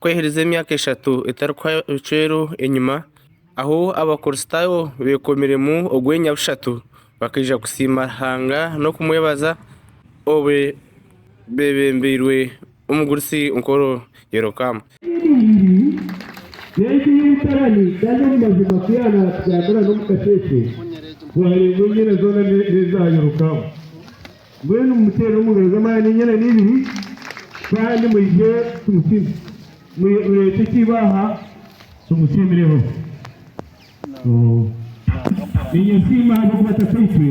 Kweherize emyaka eshatu etarikuhwera enyima, ahu Abakristaayo beekomiremu ogwenya bushatu, bakaija kusiima Ruhanga n'okumwebaza obu beebembeirwe omugurusi nkoro Yerokamu. Mbwenu mumuteere omu ngaro z'amaani enyana n'ibiri, kandi mwije tumusiime. Mureete ekiibo aha tumusiimireho. Niinye nsiima ahabw'okuba Tataitwe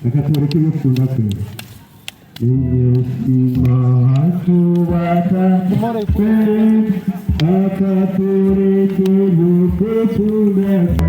akatworeka eby'okukunda kwe. Niinye nsiima ahakuba Tataitwe akatworeka eby'okukunda kwe.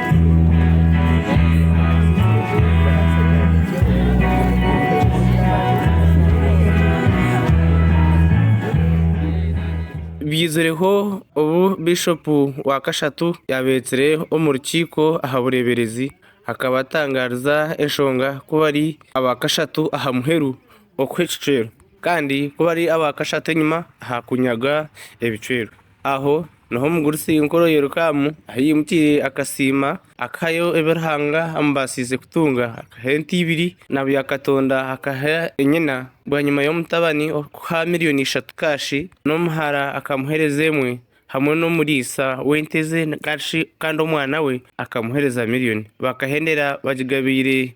Byizireho obu Bishopu wa Kashatu yaabeetsire omu rukiiko aha bureeberezi akaba atangaariza enshonga ku bari aba kashatu aha muheru okuha ekicwero kandi ku bari aba kashatu enyima aha kunyaga ebicwero. Aho niho omugurusi enkoro Yerokamu ahi yaimukiire akasiima, akahayo ebi Ruhanga amubaasiize kutunga. Akaha ente ibiri, na bya Katonda akaha nyina. Bwanyima y'omutabani kuha milioni ishatu kaashi, n'omuhara akamuheereza emwe, hamwe n'omuriisa w'ente ze, kandi omwana we akamuheereza milioni. Bakahendera bagigabiire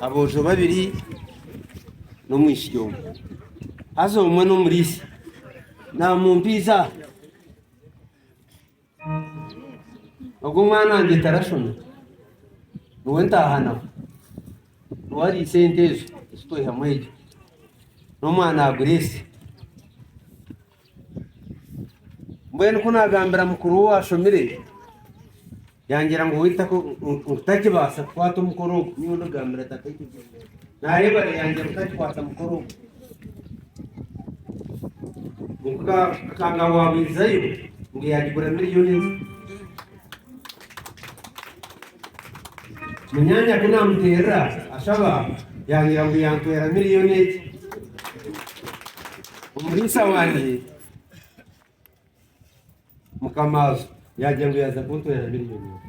Aboojo babiri n'omwishiki omwe. Haza omwe n'omuriisi naamumpiisa. Ogu omwana wangye tarashoma, niwe ntaahanaho. Niwe ariisa ente ezo ezi twaihamu egyo. N'omwana wa Guresi. Mbwenu ku naagambira mukuru we owaashomire, yangira ngu waitu nkutakibaasa kukwata omukoro ogu. Nyowe ndigambira tata ekyo kyona. Naareeba reero yangira nkutakikwata mukoro ogu. Akangamba waaba oijayo ngu yaagigura miriyoni ezi. Munyaanya ku naamuteerera ashaba, yaayera ngu yantwera miriyoni egi. Omuriisa wangye mukamaazo yaagira ngu yaaza kuntwera miriyoni egi.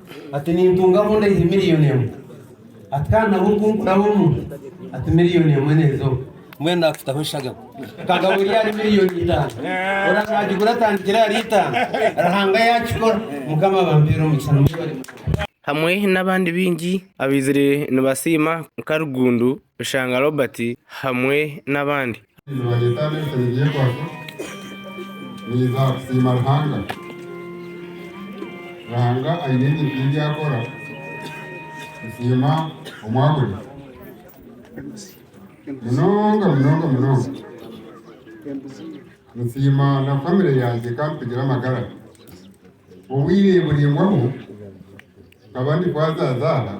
Ati, Nintunga mu ndaihi miriyoni emwe. Ati, Kandi nabwo ku nkuraho omu. Ati, Miriyoni emwe nezo. Mbwenu naakutaho eshagama. Kagabo eri ahari miriyoni itaano. Ora naagigura atandikire ahari itaano. Ruhanga yaakikora. Mukama abampere omugisha. Nimwebare munonga. Hamwe n'abandi baingi abaizire nibasiima nka Rugundu. Rushanga Robert hamwe n'abandi. Nibareeta abeesabe ebyekwaso niiza kusiima Ruhanga. Ruhanga aine ebintu ebi akora kusiima omwahuri. Munonga munonga munonga nsiima na famire yangye ekampigura amagara obwire buraingwaho. Nkaba ndi kwazaazaara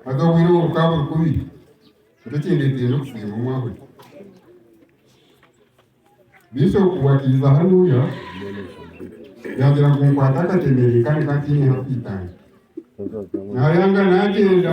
haza obwire obwo bukaba buri kubi beitu ekindeeteire n'okusiima omwahuzi Bishop obu akaiza hanuuya yaagira ngu nkwate akatemere kandi nka ntiine hakwitanga naayanga naagyenda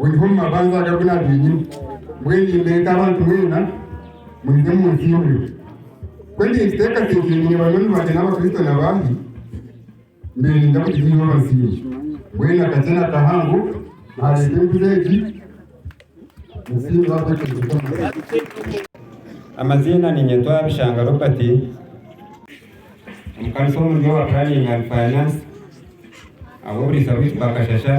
Oihe omu mabanja aga binabiinyu, mbwenu imwe nk'abantu mwena muze omu nsi y'omurimo. Ku ndi ninkuteekateekyerire banywani bangye n'Abakristo na baahi, mbaire ninza kugira eirooba nsiimye. Mbwenu akakye nakahango naareeta enguzi egi nsiimire ahabw'ekirungi ky'Omukama. Amaziina niinyetwa Bishanga Robert. Omukanisa omuri Our Planning and Finance ab'oburiisa bwitu bakashasha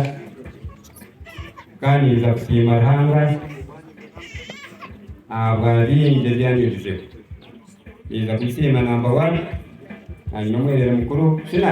kandi ninza kusiima Ruhanga ahabwa bingi ebi anyigizeho. Ninza kumusiima namba wani, aine omwereere mukuru. Shina!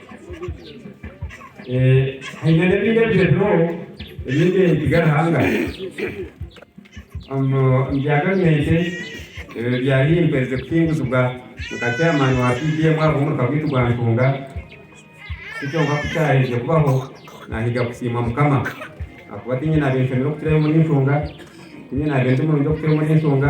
Haine n'ebindi ebiteebeho ebindi nibyo Ruhanga ngu bya gavumenti bya limbo ezirikuhinguzibwa nka chairman wa PDM aha bw'omuruka gwaitu gwa Ntunga. Ti kyonka ku kyaherize kubaho, naahiga kusiima Mukama ahakuba tiinye naabaire nshemeriire kukira omuri Ntunga, tiinye naabaire ndi murungi kukira omuri Ntunga.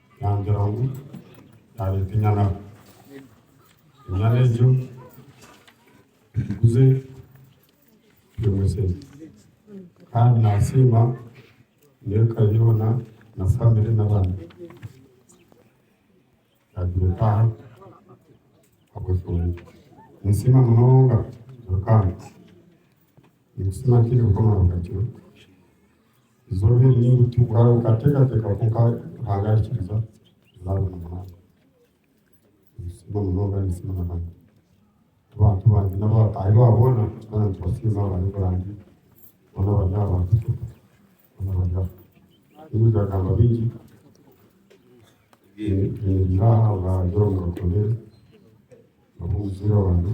Naagira ngu naareeta enyana. Enyana egyo tugiguze twine esente. Kandi naasiima n'eka yoona na famire n'abaana. Yaagira etaaha ahabw'eshonga. Ninsiima munonga Ruhanga. Ninkusiima ntaireho Mukama Rukakira. Eizooba eri ni rito kuraabe okateekateeka kwonka Ruhanga arikiriza nzaabona munonga. Ninsiima munonga ninsiima na Hana ku bantu bangye n'abataahi baabo boona twena nitubasinza abari e Burange boona abari aha ba Bishop boona abari aha. Ntiine byagamba bingi nyemereire aha ahabwa Joram Rukotondere nabwo omuzaire wangye.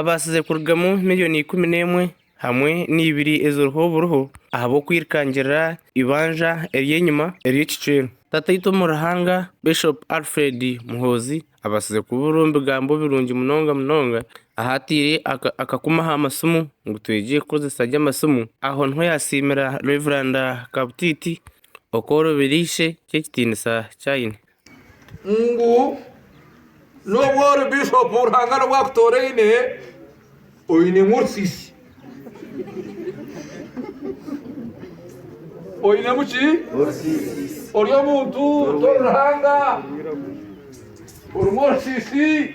Abaasize kurugamu milioni ikumi n'emwe hamwe n'eibiri eziriho oburiho ahabw'okwirikangirira eibanja ery'enyima ery'ekicwero. Tataitwe omu Ruhanga Bishop Alfred Muhoozi abaasize kubuura omu bigambo birungi munonga munonga ahu ataire akakumu aha masimu ngu twegye kukozesa gye amasimu. Aho niho yaasiimira Rev Kabutiiti okworoberia ishe ky'ekitiinisa ky'aine. ngu n'obu ori bishopu Ruhanga n'obu akutoraine oinemu orusiisi. Oinemu ki? Ori omuntu tori Ruhanga, orimu orusiisi.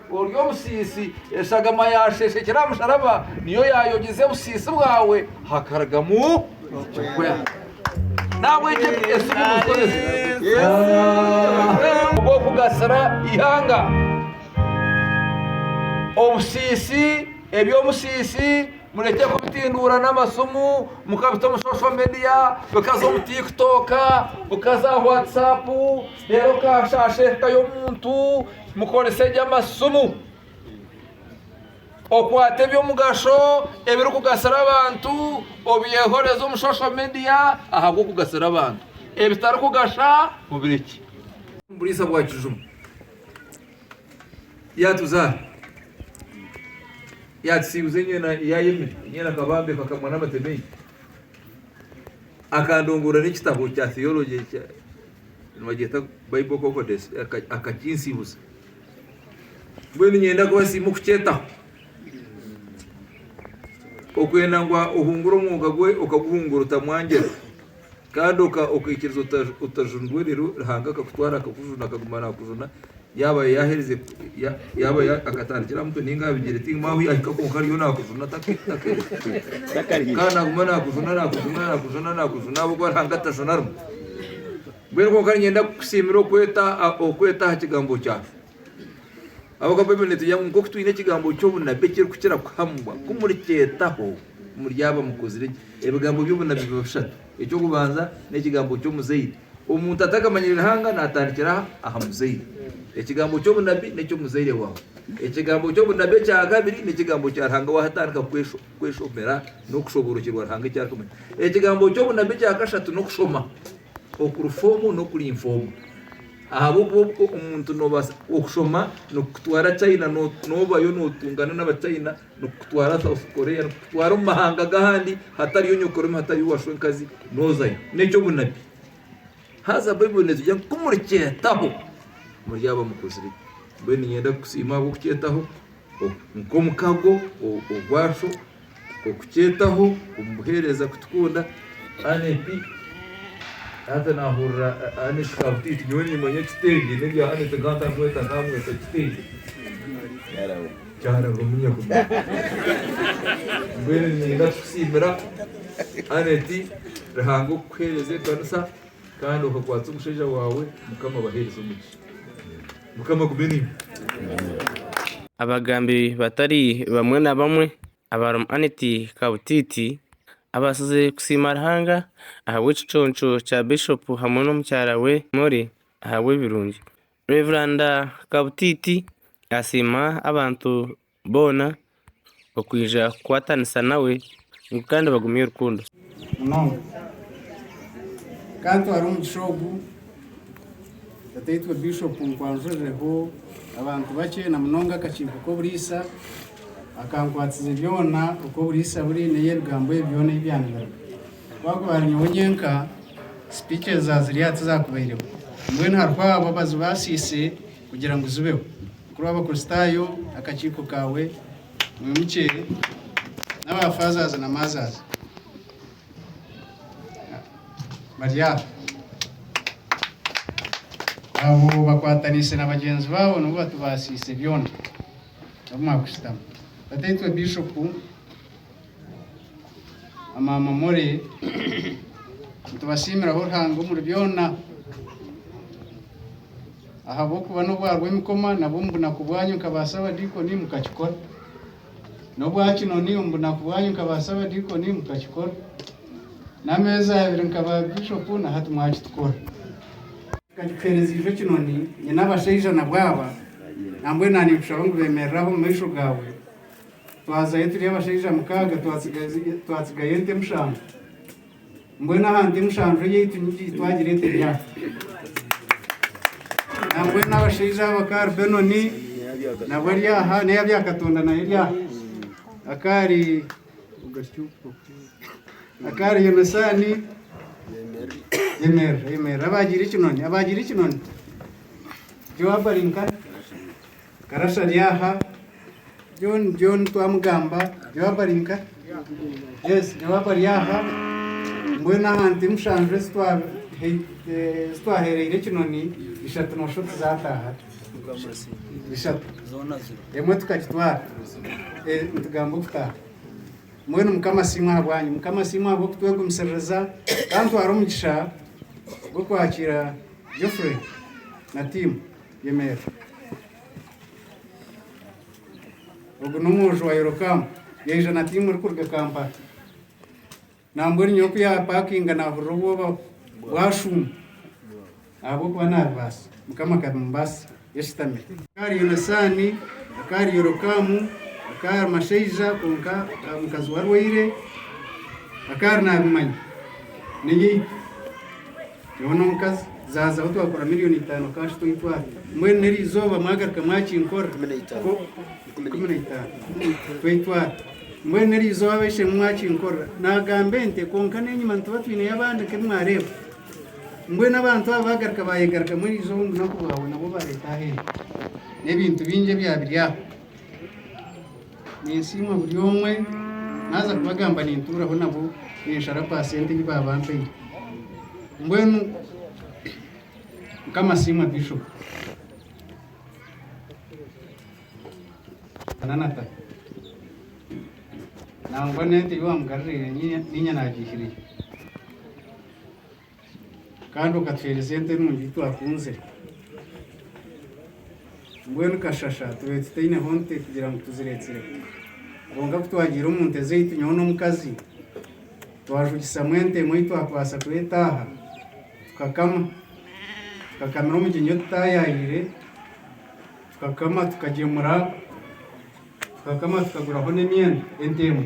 Ori omusiisi, eshagama yaasheshekire aha musharaba niyo yaayogize obusiisi bwawe hakarugamu ekirikwera. Nahabwekyo esimu nizikozesa ogw'okugasira eihanga. Obusiisi, eby'omusiisi murekye kubitinduura n'amasimu mukabita omu social media, bikaza omu Tiktok, bikaza aha Whatsapp, Reero okaashaasha eka y'omuntu, mukorese gye amasimu. Okwate eby'omugasho ebirikugasira abantu obyehoreze omu social media ahabw'okugasira abantu. Ebitarikugasha mubirekye. Buriisa bwa kijuma yaatuzaara, yaatusiibuza enyo yaayemera, enyo nakabambe kakamwa n'amateme enyo akandongoora n'ekitabo kya theology. Nibagyeta Bible Concordance akakinsiibuza. Mbwenu niinyenda kubasiima okukyetaho. Okwenda ngu ohungure omwoga gwe okaguhungura otamwangira kandi okaikiriza otajunirwe reero Ruhanga akakutwara akakujuna akaguma naakujuna Yaaba yaaherize, yaaba akatandikira aha mutwe nainga aha bigyere tihaine ahu yaahika kwonka ariyo naakujuna takarya. Kandi naaguma naakujuna, naakujuna, naakujuna, naakujuna ahabw'oku arihanga atajuna rimwe. Mbwenu kwonka niinyenda kukusiimira okweta okweta aha kigambo kyaawe. Ahabw'okuba Baibuli neetwigira ngu nk'oku twine ekigambo ky'obunabi ekirikukira kuhamibwa, ku murikyetaho muryaba mukuzire gye. Ebigambo by'obunabi biba bishatu. Eky'okubanza n'ekigambo ky'omuzaire. Omuntu atakamanyire Ruhanga naatandikira aha muzaire. Ekigambo ky'obunabi n'eky'omuzaire waawe. Ekigambo ky'obunabi ekya kabiri n'ekigambo kya Ruhanga waatandika kweshomera n'okushoboorokyerwa Ruhanga eki arikumanya. Ekigambo ky'obunabi ekya kashatu n'okushoma okuri foomu n'okuri infoomu. Ahabw'okuba omuntu noobaasa, okushoma nikukutwara China noobayo nootungana n'Abachina. Nikukutwara South Korea, nikukutwara omu mahanga g'ahandi hatariyo nyokorome, hatariyo washwa enkazi, nozayo. Nekyo obunabi. Haza Baibuli netugya ngu kumurikyetaho muryaba mukozire gye. Mbwenu niinyenda kukusiima ahabw'okukyetaho nk'omukago ogwasho, okukyetaho omu buheereza kutukunda. Aneti, haza naahurira Aneti kabutiiti. Nyowe niimanya ekitengye, n'ebya Aneti nkaba ntakumweta, nkamweta kitengye. Kyaremba omu nyeguma. Mbwenu niinyenda kukusiimira Annet Ruhanga okukuheereza ekanisa kandi okakwatsa omushaija waawe Mukama abaheereze omugisha. Mukama agume nainywe. Abagambi batari bamwe na bamwe abarimu Annet Kabutiiti abaasize kusiima Ruhanga ahabw'ekiconco kya Bishop hamwe n'omukyara we Molly ahabw'ebirungi Rev Kabutiiti asiima abantu boona okwija kukwatanisa nawe ngu kandi bagumye rukundo. Munonga nkantwara omugisha ogu Tataitwe Bishop kunkwanjurireho abantu bakye na munonga akakiiko k'oburiisa akankwatize byona oku oburiisa buri n'eyi ebigambo ebi byona eyi byandibaga. Ku hakuba nyowe nyenka speeches za ziriya tizakubaireho, mbwenu hariho abo abazibaasiise kugira ngu zibeho. Mukuru w'Abakristaayo, akakiiko kaawe, mwimukye, n'aba fathers na mothers bari aha. Abo bakwataniise na bagyenzi baabo nibo batubaasiise byona. Abamu mwakushutama. Bataitwe Bishopu. Maama Molly, nitubasiimiraho Ruhanga omuri byona, ahabw'okuba n'obu hariho emikoma nabwo omu bunaku bwanyu nka baasaabadiikoni mukakikora. N'obwa Kinoni omu bunaku bwanyu nka baasaabadiikoni mukakikora. N'ameezi abiri nka baabishopu na hati mwakitukora. Nkakikuheereziibwe Kinoni, nyine abashaija nabwo aba, nambwenu naaniikushaba ngu beemerere aha omu maisho gaawe. Twazayo turi abashaija mukaaga, twatsigayo ente mushanju. Mbwenu aha nte mushanju eyaitu nigiki twagira ente emyaka? Nambwenu abashaija abo akaari Benoni nabo ari aha, n'eya Byakatonda nayo eri aha. Akaari akaari Yonasaani Yemerera, yemerera. Abaagiire ekinoni, abaagiire ekinoni. Yoabu ari nkani? Karasha ari aha. John John twamugamba Joab ari nka yes Joab ari aha mbwenu aha nte mushanju ezi twa- he- eh, ezi twahereire ekinoni ishatu nosho tizataaha ishatu emwe tukagitwara Eh, nitugamba okutaaha mbwenu mukama asiimwe aha bwanyu mukama asiimwe ahabw'okutwegumisiriza kantwara omugisha gw'okwakiira Geoffrey na tiimu Yimera. Ogu n'omwojo wa Yerokamu. Yaija na tiimu erikuruga Kampala. Nambwenu nyowe ku yaapakinga naahurira obwoba bwashuuma ahabw'okuba naabibaasa. Mukama akabimubaasisa. Yashutamire. Akahari Yonasaani, akahari Yerokamu, akahari mashaija kwonka omukazi we arwaire, akahari naabimanya. Niinye itwe. Nyowe n'omukazi zaaza ahu twakora million itaano cash toyitwara mbwenu n'erizooba mwagaruka mwakinkorra Ikumi na itaano. ko Ikumi na ikumi na itaano toyitwara mbwenu n'erizooba ab'eishe-emwe mwakinkorra nagamba ente kwonka n'enyima nituba twineyo abandi nk'ebi mwareeba mbwenu abantu abo bagaruka bayegarukamu erizooba omu bunaku bwabo nabwo bareeta aho ente n'ebintu bingi ebyabiri aho. Ninsiima buri omwe, naaza kubagamba nintuuraho nabo ninshara paasenti ei baaba bampaire. Mbwenu Mukama asiimwe Bishop na Nathan. Nangwa n'ente ei waamugarira niinye naagiihirira. Kandi okatuhereza ente nungi yu twakunzire. Mbwenu kashasha tubaire tutaineho nte kugira ngu tuziretsireho. Kwonka ku twagiire omu nte zaitu nyowe n'omukazi, twajugisamu ente emwe ei twakubaasa kuba etaaha, tukakama. Tukakamira omugyenyi otutaayaayeire, tukakama tukagyemura, tukakama tukaguraho n'emyenda, ente emwe.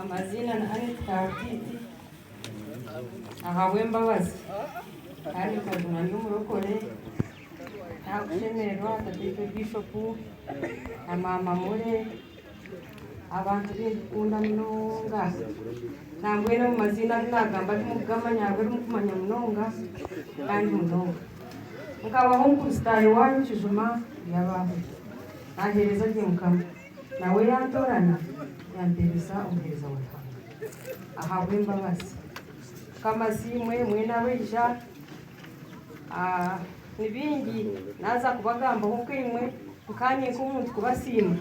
Amaziina ni Annet Kaartiiti ahabw'embabazi kandi nkaguma ndi omurokore ntakushemererwa Tataitwe Bishop na Maama Murray abantu abu ndikukunda munonga nambwenu ago maziina agu nagamba timukugamanya hariho abu mukumanya munonga kandi munonga. Nkabaho omu Kurisitaayo wanyu kijuma yabaho naheereza gye Mukama. Nawe yantorana, yampereza omuheereza wa Ruhanga ahabw'embabazi. Mukama asiimwe mwena abaija. Ni bingi naaza kubagambaho nkaimwe, nkaanye nk'omuntu kubasiima,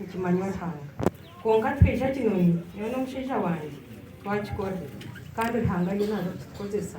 nikimanywa Ruhanga. Kwonka tikaija kinoni, nyowe n'omushaija wangye twakikora, kandi Ruhanga ariyo naaza kutukozesa.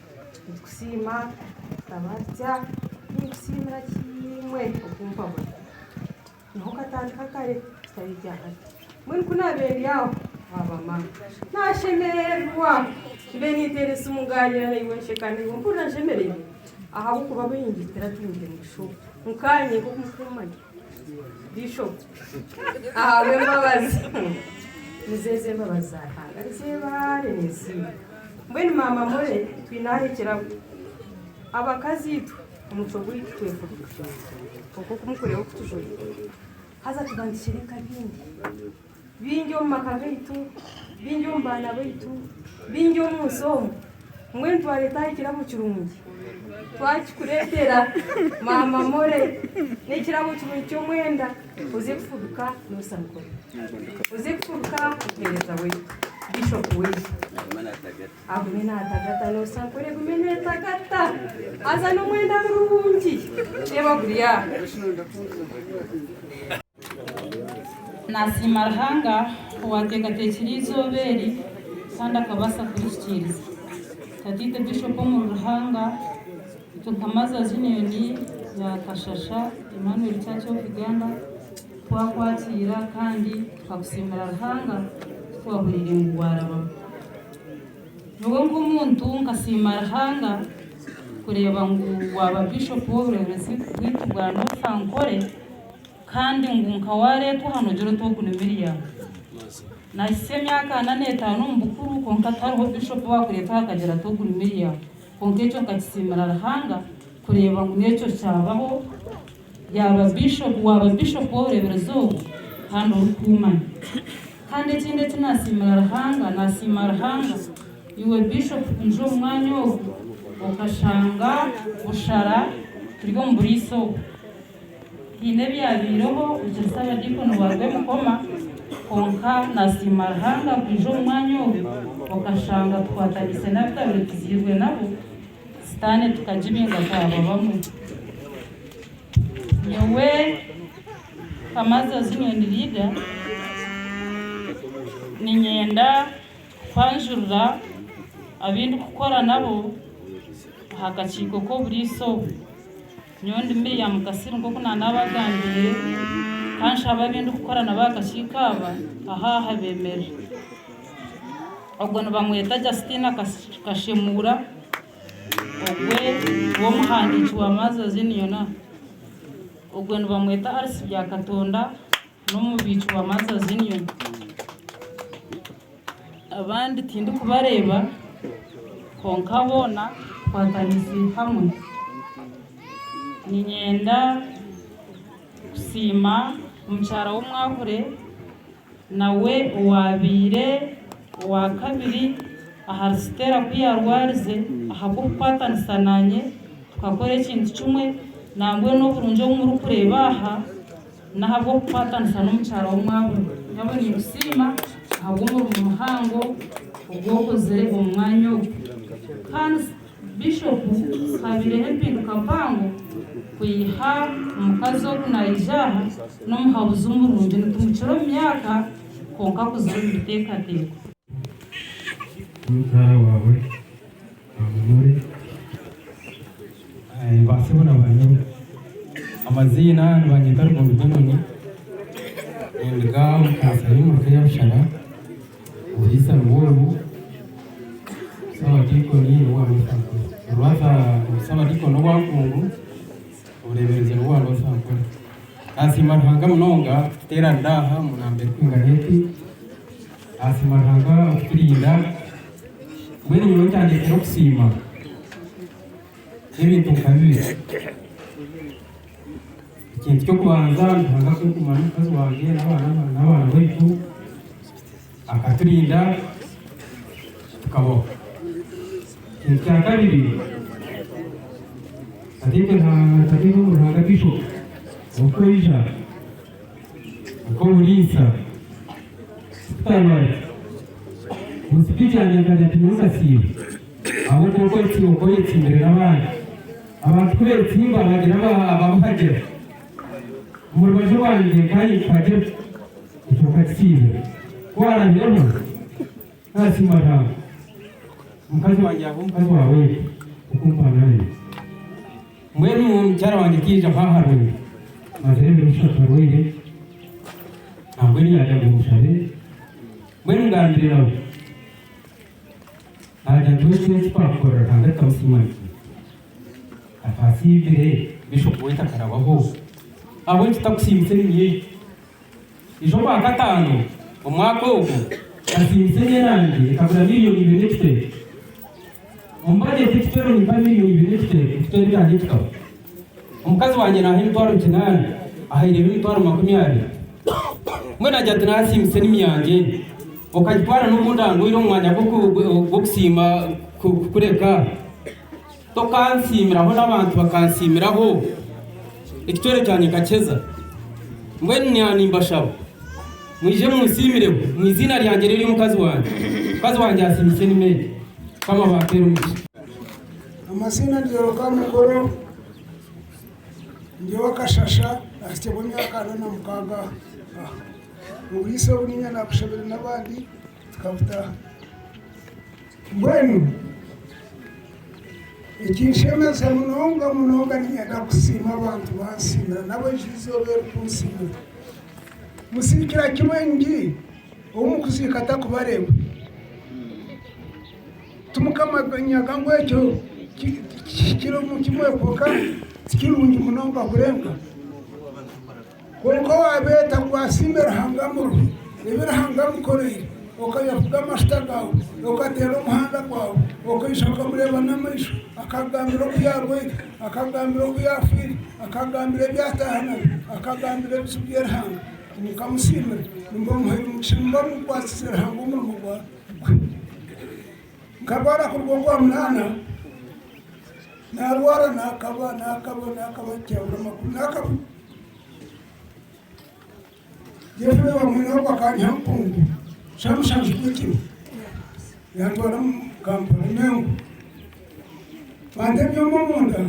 Nitukusiima tukaba tutya ninkusiimira kimwe okumpa buri niho katandika kare kitari ekya hati mbwenu ku naabe ndi aho waaba mama naashemererwa mbe ninteera esimu ngaanyira naiwe nsheka naiwe mpurira nshemereirwe ahabw'okuba baingi turatungi omugisha ogu nkaanye nk'oku murikumanya Bishop ahabw'embabazi nizo ezo embabazi za Ruhanga nizebaare ninsiima mbwenu maama Mole twine aho ekirabo abakazi itwe omucwe gwaitu kwefubika kwonka oku mukureeba oku tujwaire haza tuba nitukyereeka bingi. Baingi omu maka gaitu, baingi omu baana baitu, baingi omu nsi omu, mbwenu twareeta aha kirabo kirungi. Twakikureetera, maama More, n'ekirabo kirungi ky'omwenda, oze kufubika Noosa Nkore. Oze kufubika omuheereza waitu, Bishop waitu. Agume naatagata, Noosa Nkore egume neetagata. Haza n'omwenda murungi, reeba guri aha. Naasiima Ruhanga owaateekateekire eizooba eri kandi akabaasa kurihikiiriza. Tataito Bishop Omuri Ruhanga, Itwe nka Mothers Union ya Kashasha Emmanuel Church of Uganda, twakwatiira kandi tukakusiimira Ruhanga ku twahuriire ngu waarabamu. Nyowe nk'omuntu nkasiima Ruhanga kureeba ngu waaba Bishop w'obureebezi bwaitu bwa North Ankole. Kandi ngu nka waareetwa aha noogira oti ogu ni Miriam. Nahitsya emyaka ana n'etaano omu bukuru, kwonka tihariho bishopu owaakureetwa aha akagira ati ogu ni Miriam. Kwonka ekyo nkakisiimira Ruhanga kureeba ngu n'ekyo kyabaho, yaaba bishopu, waaba bishopu w'obureeberezi obu kandi orikuumanya. Kandi ekindi eki naasiimira Ruhanga, naasiima Ruhanga iwe bishopu kwija omu mwanya ogu, okashanga bushara turi omu buriisa obu. Haine ebyabaireho bukya Ssabadiikoni wa Rwebikoma kwonka nasiima Ruhanga kwija omu mwanya ogu okashanga tukwataniise n'abitabaire tuzairwe nabo sitaane tukagibinga twaba bamwe. Nyowe Kamaza Zunioni Lida ninyenda kukwanjurira abindikukora nabo aha kakiiko k'oburiisa obu. Nyowe ndi Meeya Mukasiri nk'oku naanaabagambiire, ka nshabe abu ndikukora nabo aha kakiiko aba aha aha beemerire. Ogwo nibamweta Justina Kashemuura, ogwe w'omuhandiiki wa Mothers Union, ogwe nibamweta Alice Byakatonda, N'omubiiki wa Mothers Union. Abandi tindikubareeba kwonka boona tukwatanise hamwe. Niinyenda kusiima mukyara w'omwahure nawe owaabaire owaakabiri ahari Stella ku yaarwarize ahabw'okukwatanisa naanye tukakora ekintu kimwe nambwenu oburungi obu murikureeba aha, N'ahabw'okukwatanisa n'omukyara w'omwabu, nyowe ninkusiima ahabw'omurimo muhango ogu okozire omu mwanya ogu. Hans, Bishopu, haabireho empinduka mpango kwiha omukazi ogu naija aha, n'omuhabuzi omurungi. Nitumukira omu myaka, kwonka akuzire omu biteekateeko. Baminure basebo na banyina. Amaziina, nibanyeta Rugondu Benoni, ninduga omu kanisa y'omuka eya Bushara, oburiisa nibwo obu, Busabadiikoni nobwa North Ankole. Orwaza Obusabadiikoni nobwa Nkungu, obureeberezi nobwa North Ankole. Naasiima Ruhanga munonga kututeeranira aha omu namba erikwingana eti. Asiima Ruhanga okuturinda. Mbwenu nyowe kyandeetera okusiima n'ebintu nka bibiri. Ekintu ky'okubanza ni Ruhanga kunkuma n'omukazi wangye n'abaana n'abaana baitu, akaturinda tukabaho. Ekintu kya kabiri nkatekereza nkatekereza omu Ruhanga Bishop oku aija, Nk'omuriisa, tikutarwaza. Musiki kyangye nkagira nti niwe kasiibo ahabw'okuba okwetsimba nkwo oyetsimbire n'abandi. Abantu ku beetsimba bagira ababuhagira. Omu rubaju rwangye nkanye nkuhagira, ekyo nkakisiibira. Ku waraabireho? Aa Siima Ruhanga mukazi wangye aho mukazi wa Wade okumpa nanye. Mbwenu mukyara wangye tiyaija ho aharwire mazire ebiro bishatu arwaire nambwenu yagira ngu mushabe mbwenu ngambire nawe nagira nti waitu eki twakukorera Ruhanga tutamusiima nikyi? Akasiibire Bishop waitu akarabaho ahabw'enki takusiimisa eminywe yaitu? Eizoobaakataano omwaka ogwo, nkasiimisa emyerangi ekagura milioni ibiri n'ekicweka. Omu bajeti ekicwero nimpa milioni ibiri n'ekicweka ekicwero erangi ekikaba. Omukazi wangye naaha emitwaro kinaana, ahaireho emitwaro makumi abiri. Mbwenu agira ati, Naasiimisa enimi yangye, okagitwara n'obu ndandwaire omu mwanya gw'okusiima kukureka. Tokansiimiraho n'abantu bakansiimiraho, ekicwere kyangye nkakiheeza. Mbwenu naanye nimbashaba, mwije munsiimireho omu iziina ryangye n'ery'omukazi wangye. Mukazi wangye asiimisa enima egi. Mukama abampere omugisha. Amazina ni Yoroka Mukoro, ndi owa Kashasha, nahitsirwe emyaka ana na mukaaga aha. Oburiisa obu niinyenda kushabira n'abandi Tukakutaha. Mbwenu ekinshemeza munonga munonga niinyenda kusiima abantu bansiimira nabo eija eizooba erikunsiimira. Musiikira kimwe ngi ou mukuziika atakubareeba. Timukamanyaga ngu ekyo kihikire omu kimwe kwonka tikirungi munonga kurenga? Kwonka owaabeeta ngu asiime Ruhanga amuruhe ebi Ruhanga amukoreire, okayafuga amashuta gaawe, okateera omuhanda gwawe, okaija okamureeba n'amaisho, akakugambira oku yaarwaire, akakugambira oku yaafiire, akakugambira ebi ataaha nabyo, akakugambira ebizibu bye Ruhanga, mukamusiimira, nimuba mumuhaire omugisha, nimuba mukwatsize Ruhanga omurimo gwe. Nkarwara kuruga omu Rwamunaana, naarwara, naakaba, naakaba, naakaba, tihabura makuru, naakaba. Yefuta omwana we owa kaari Hampungu Shamushanju Kukiru yaatwara omu Kampala Mengo banta ebyoma omu nda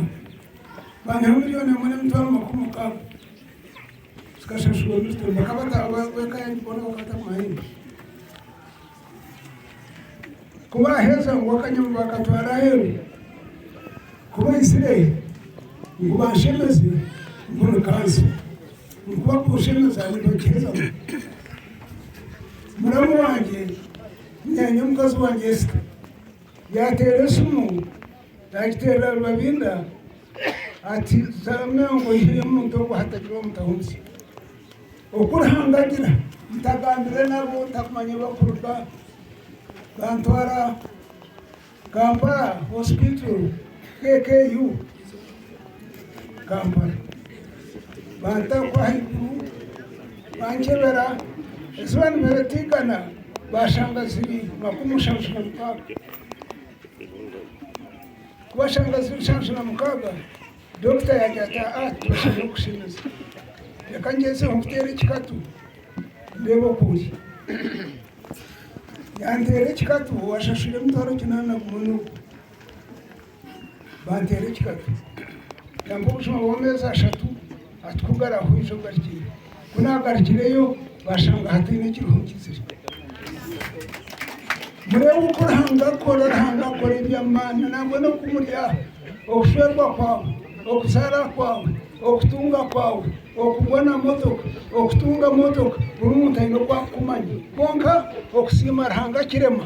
banyiha milioni emwe n'emitwaro makumi mukaaga zikashashurwa Milton bakaba bataabura ab'eka yange boona bakaba batakumanya nyowe Ku baaheza, ngu akanyama baakatwara aheeru. Ku baizire, ngu banshemeze, ngu nikansa. Ngu bakunshemeza, nibagiheza ngu, Muramu wangye, nyaanya mukazi wangye Esita, yaateera esimu, yaagiteerera Rubabinda ati, Zaramya ngu oihiremu omuntu ogu hatagira omutahuriza. Oku Ruhanga agira, Ntagambire nabo, ntakumanya bakuruga, bantwara Kampala Hospital, KKU, Kampala, banta ku ahaiguru, bankyebera, eziba nibiritiigana bashanga ziri makumi mushanju na mukaaga. Ku bashanga ziri nshanju na mukaaga, Dokita yaagira ati, Aa, tibashemereire kukushemeza. Reka ngyezeho nkuteere ekikatu ndeebe oku ori. Yanteera ekikatu, owashashwire emitwaro kinaana gumwe n'ogwo. Banteera ekikatu. Yampa obujuma bw'ameezi ashatu. Ati, Ku garahwija ogarukire. Ku naagarukireyo baashanga hataine kiriho nkitsiri. Mureeba oku Ruhanga akora, Ruhanga akora eby'amaani nangwa n'oku muri aha, okushwerwa kwawe, okuzaara kwawe, okutunga kwawe, okugwa na motoka, okutunga motoka, buri muntu aine oku arikukumanya. Kwonka okusiima Ruhanga kirema.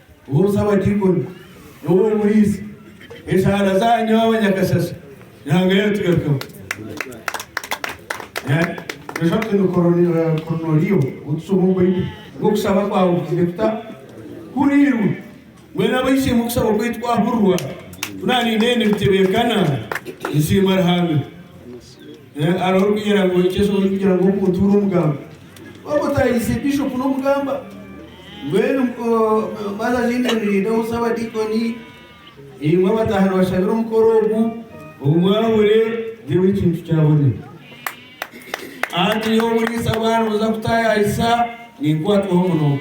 Boosa abadiikoni n'ow'omu buriisa, enshaara zaanyu abanyakashashe Ruhanga yaatugarukaho. Nooshusha oti ni Koroneliyo ou tushoma omu Baibuli, ngu okushaba kwawe kugizire kuta? Kuhuriirwe. Mbwenu ab'eishe-emwe okusaba kwaitu kwahurirwa, ku naaniinee nibitebeekana, nsiima Ruhanga. Eh, hariho orikugira ngu ekyezo orikugira ngu omuntu ori omugamba. Waba otayirize bishopu n'omugamba. Mbwenu oh, baza zindi nirindaho sabadikoni imwe abataha nibashabira omukoro ogu obu mwabure ndewe ekintu kyabone anti nyowe omuriisa bwana buza kutayayisa ninkwatwaho muno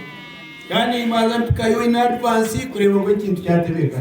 kandi mbanza mpikayo in advance kureba ngu ekintu kyatebeka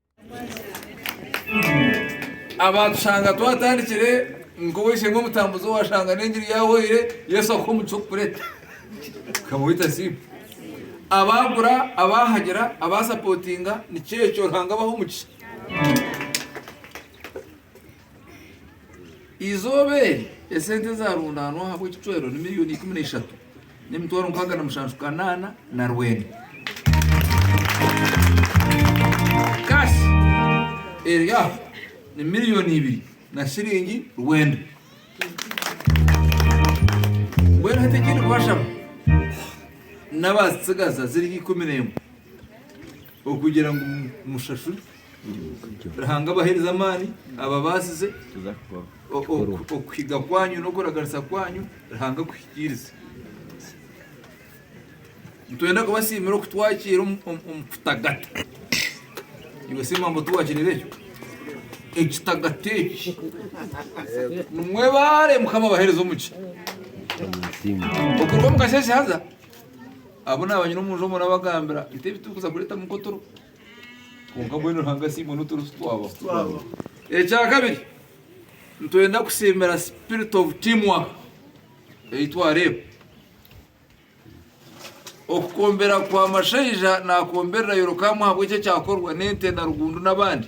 Abatushanga twatandikire nk'ow'eishe-emwe omutambuzi owashanga n'engiri yahweire, Yesu akuhe omukisa okukureta. Ukaba oita asiimwe. Abaagura, abaahagira, abaasapotinga, nikyo ekyo. Ruhanga abahe omukisa. Eizooba eri, esente ezaarundaanwa ahabw'ekicwero ni miriyoni ikumi na ishatu n'emitwaro nkaaga na mushanju kanaana na rwenda. Kashi eri aha ni miriyoni ibiri na shiringi rwenda. Mbwenu hati eki ndikubashaba n'abaazitsigaza ziri ikumi n'emwe okugira ngu mushashurwe. Ruhanga abaheereze amaani, ababaasize okuhiga kwanyu n'okuraganisa kwanyu, Ruhanga akuhikiirize. Nitwenda kubasiimira okutwakiira omu kitagato. Iwe Siima mbu tiwakireba ekyo? Ekitagato eki. Nimwebaare Mukama abaheereze omugisha. Okuruga omu kasheeshe haza, abu naabanyina omu nju omwo nabagambira, itwe ebi turikuza kureetamu nk'oturo, Kwonka mbwenu Ruhanga asiimwe nu turi titwabaho. Ekya kabiri, nitwenda kusiimira spirit of team work ei twareeba. Okukombera kwa Mashaija nakomberera Yorokaamu ahabw'eki ekyakorwa n'Ente na Rugundu n'abandi.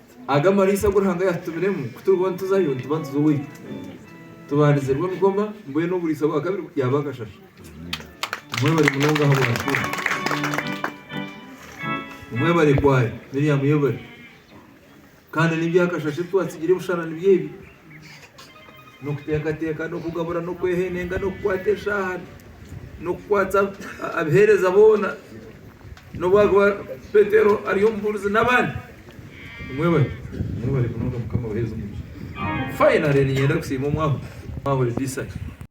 Aga amariisa agu Ruhanga yaatutumiremu ku turibo nituzayo, nituba nituza owaitu. Tubandize rwo nigoma, mbwenu oburiisa bwa kabiri yaaba akashasha. Mwebare munonga aha bw'ahakuun. Mwebare kwaaya, Miriam yebare. Kandi n'eby'akashasha ebi twatsigire ebisharani by'ebi, n'okuteekateeka n'okugabura n'okwehenenga n'okukwata eshaaha n'okukwatsa abaheereza boona n'obu arikuba Petero ari omubuurizi n'abandi. Mwebale, mwebale munonga Mukama abaheereze omugisha. Finally niinyenda kusiima omwahu, omwahu Elisha.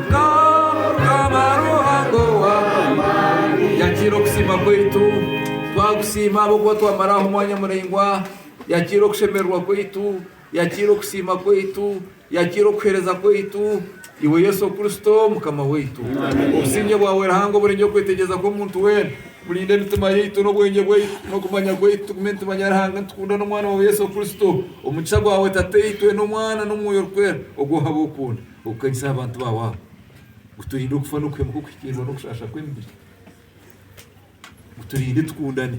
Mukama Ruhanga ow'amaani. Yakira okusiima kwaitu twakusiima ahabw'okuba twamaraho omwanya muraingwa Yakira okushemererwa kwaitu Yakira okusiima kwaitu Yakira okuhereza kwaitu Iwe Yesu Kristo Mukama waitu Obusingye bwawe Ruhanga oburengye okwetegyereza kw'omuntu weena Burinde emitima yaitu n'obwengye bwaitu n'okumanya kwaitu Tugume nitumanya Ruhanga nitukunda n'Omwana wawe Yesu Kristo Omugisha gwawe Tataitwe n'Omwana n'Omwoyo Orikwera Ogwo ohab'okunda. Okukanyisa aha bantu baawe abo. Guturinde okufa n'okuhemuka okuhikiirirwa n'okushaasha kw'emibiri. Guturinde tukundane.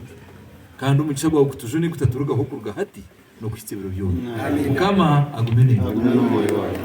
Kandi omugisha gwawe gutujune gutaturugaho kuruga hati n'okuhitsya ebiro byona. Mukama agume naitwe.